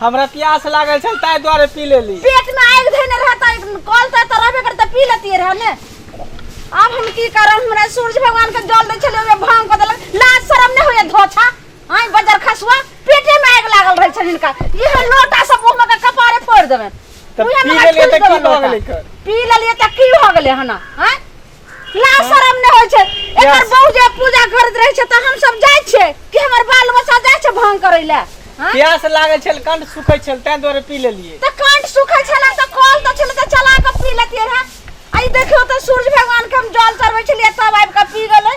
हमरा प्यास लागल छल ताहि दुआरे पी लेली पेट में आग धने रहता कल त त रहबे करता पी लेती रह ने अब हम की करब हमरा सूरज भगवान के जल दै छलिए ओमे भांग को देलक लाज शरम ने होए धोछा आइ बजर खसुआ पेटे में आग लागल रहै छल इनका इह लोटा सब मुंह में के कपारे फोड़ देबे तब पी लेलियै तऽ की भऽ गेलै कर? पी लेलिए त की हो गेले हना हैं लाज शरम नहि होइ छै एकर Yes. बहू जे पूजा करैत रहै छै तऽ हमसभ जाइ छियै कि हमर बाल बच्चा जाइ छै भांग करै लए हँ? प्यास लागल छल कंठ सुखै छल ताहि दुआरे पी लेलियै तऽ कंठ सुखै छलै तऽ कल तऽ छलै तऽ चला कऽ पी लेतियै रहे आ ई देखियौ तऽ सूर्य भगवान के हम जल चढ़बै छलियै तब आबि कऽ पी गेलै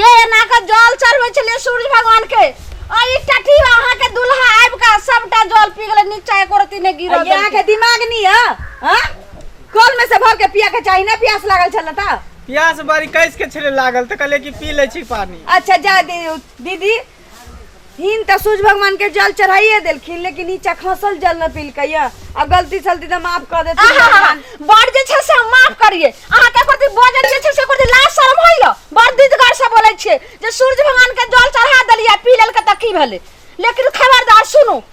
ये एना के जल चढ़बै छलिए सूर्य भगवान के आ ई टठी अहाँ के दुल्हा आबि के सबटा जल पी गेलै नीचा एको रति ने गिरल अरे यहाँ के दिमाग नहीं है हाँ? कल में से भर के पिया के चाहिए ना प्यास लागल छल था प्यास बारी कैस के छले लागल तो कहले कि पी ले छी पानी अच्छा जा दी, दीदी हिन तऽ सूर्य भगवान के जल चढ़ाइए देलखिन लेकिन ई चखसल जल न पीलकैए आ गलती सलती तऽ माफ कऽ देथिन आहा भगवान बड़ जे छै से हम माफ करिए अहाँ के प्रति बजै जे छै से प्रति लाज शर्म होइल बड़ दिदगर से बोलै छियै जे सूर्य भगवान के जल चढ़ा देलिए पी लेलकै तऽ की भेलै लेकिन खबरदार सुनू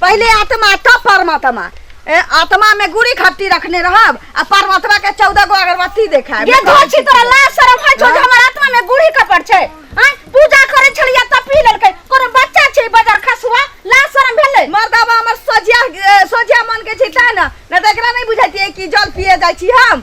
पहले आत्मा तब परमात्मा ए, आत्मा में गुड़ी खट्टी रखने रहब आ परमात्मा के चौदह गो अगरबत्ती देखाएब ये धोछी तोरा लाज शरम है जो जे हमर आत्मा में गुड़ी कपड़ छै हैं पूजा करे छलिया त पी लेलकै कोनो बच्चा छै बाजार खसुआ लाज शरम भेलै मर्दाबा हमर सोझिया ए, सोझिया मन के छिटा न न त एकरा नहीं बुझाइतिए कि जल पिए जाइ छी हम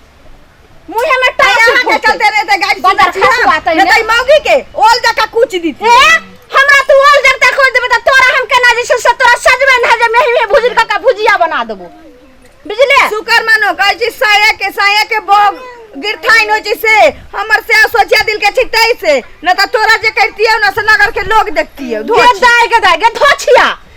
मुंह में टांग यहाँ के फूट चलते रहते गाड़ी से बाजार बचिया। खसवा तई ने। नहीं मौगी के ओल जका कुछ दी ए हमरा तू ओल जगता खोज देबे त तोरा हम केना जे छै से तोरा सजबे न जे मेही में भुजिर का भुजिया बना देबो बुझले शुक्र मानो कहै छी साया के साया के बोग गिरथाइन होइ छै से हमर से सोचिया दिल के छिटै से न त तोरा जे करतियौ न से नगर के लोग देखतियौ गे धोछ दाय गे दाय गे धोछिया